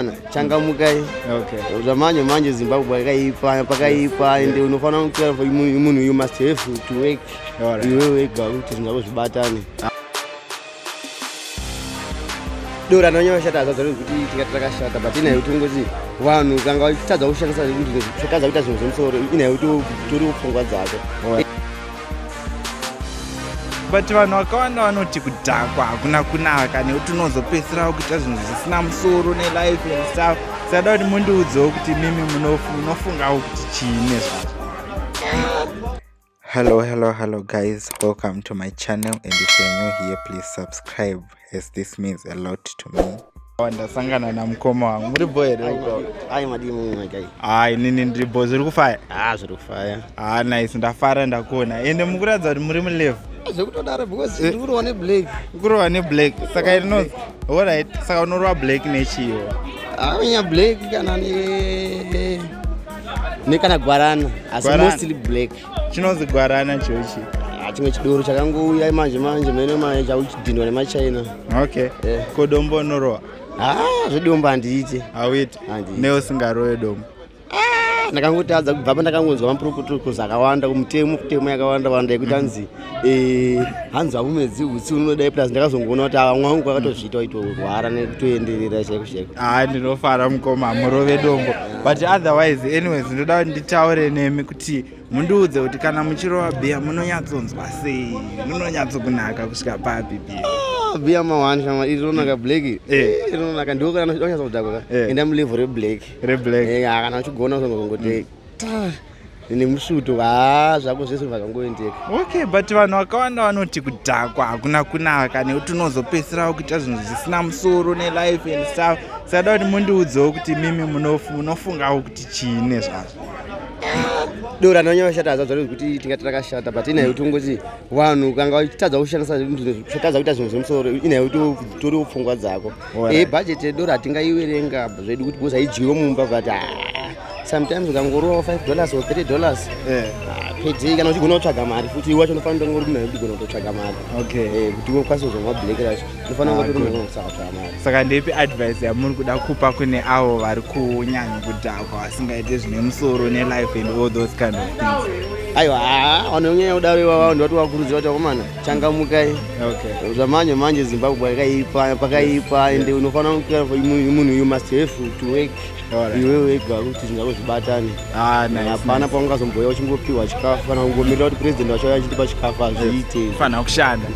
Mwana changamukai Okay. zvamanje manje zimbabwe pakaipa pakaipa and unofanira kutora for munhu munhu you must have to work Alright. iwe wega kuti zvinhu zvako zvibatane dora anonyanya kushata azaza kuti tikati takashata but inaye kuti ungoti vanhu kanga vachitadza kushandisa zvekutadza kuita zvinhu zvemusoro inaye kuti tori pfungwa dzako Alright. but vanhu vakawanda vanoti kudhakwa hakuna kunaka nekuti unozopedzisirawo kuita zvinhu zvisina musoro nelife and stuff sada kuti mundiudzewo kuti mimi munofungawo kuti chii nezvazvo hello hello hello guys welcome to my channel and if you're new here please subscribe Yes, this means a lot to me. Ndasangana na mukoma wangu. Muri boy here uko? Ai madii munhu magai. Ah, inini ndiri boy. Zviri kufaya? Ah, zviri kufaya. Ah, nice. Ndafara ndakuona. Ende mukuratidza kuti muri mulevu. Zvekutodaro because eh. ndikurowa ne black. Ukurowa ne black. Saka ino All right. Saka unorowa black nechiyo. Ah, nya black kana ne ne kana gwarana. Asi mostly black. chinonzi gwarana chochi ah, chimwe chidoro chakangouya manje manje mene manje chakuchidhindwa nemachina okay yeah. ko dombo unorowa haa ah, zvedombo handiite hauite neusingarowe dombo ah, ndakangotadza kubva pandakangonzwa mapurukutukuzi akawanda kumutemo kutemo yakawanda wanda yekuti anzi mm -hmm. Eh, hanzi hamumedzi utsi unodai plus ndakazongoona kuti ava mwangu kwakatozviita itorwara nekutoenderera chaiko chaiko haa ah, ndinofara mukoma hamurove dombo but otherwise anyways ndoda kuti nditaure nemi kuti mundiudze kuti kana muchirova bhiya munonyatsonzwa sei munonyatsokunaka kusvika papi bhiya ah, bhiya mawani shama iri rinonaka black eh. Eh, rinonaka ndiwo kana wanyatsa kudhakwa ka enda mulevo reblack reblack kana uchigona uzongozongoti mm. Ah, ine musvuto haa zvako zvese zvakangoendeka okay but vanhu vakawanda vanoti kudhakwa hakuna kunaka nekuti unozopedzisirawo kuita zvinhu zvisina musoro nelife and stuff sada kuti mundiudzewo kuti mimi munofungawo kuti chii nezvazvo dora nonye vashata hazva zvaro kuti tingati rakashata but inaye kuti ungoti vanhu kanga vachitadza kushandisa zvinhu zvatadza kuita zvinhu zvemusoro inaye kuti toriwo pfungwa dzako e eh, budget yedoro hatingaiverenga zvedu kuti because haidyiwe mumba but ah, sometimes ukangorowa 5 dollars or 3 dollars eh. ah, pedei kana uchigona kutsvaga mari futi iwe wacho unofanira kunge uri munhu udigona kutotsvaga mari eh, kuti ukwanise kuzomwa black racho unofanira kunge uri munhu unosatsvaga mari saka ndepi advice yamuri kuda kupa kune avo vari kunyanya kudhakwa vasingaite zvine musoro nelife and all those kind of things aiwa ah, vanonyanya kudaro ivavo ndivati vakurudzira kuti vakomana changamukai okay. zvamanje manje zimbabwe pakaipa pakaipa ende yeah. unofanira munhu you must have to work iwe wega kuti zvingako zvibatane ah, hapana paungazomboya uchingopiwa chikafu kana kungomirira kuti president wacho achitipa chikafu hazviite fanira kushanda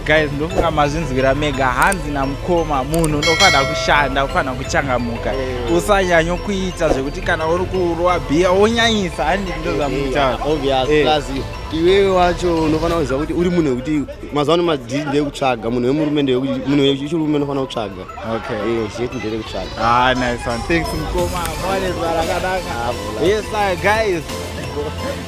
guys ndofunga mazvinzwira mega hanzi namukoma munhu unofanira kushanda ufanira kuchangamuka usanyanyo kuita zvekuti kana uri kurwa bhiya wonyanyisa handi ndozvamutaura iwewe wacho unofanira kuziva kuti uri munhu wekuti mazuva ano madii ndeyekutsvaga munhu wemurume munhu wechirume unofanira kutsvaga zvetu ndeyekutsvaga ah, nice one thanks mkoma mwanezvarakanaka ah, yes guys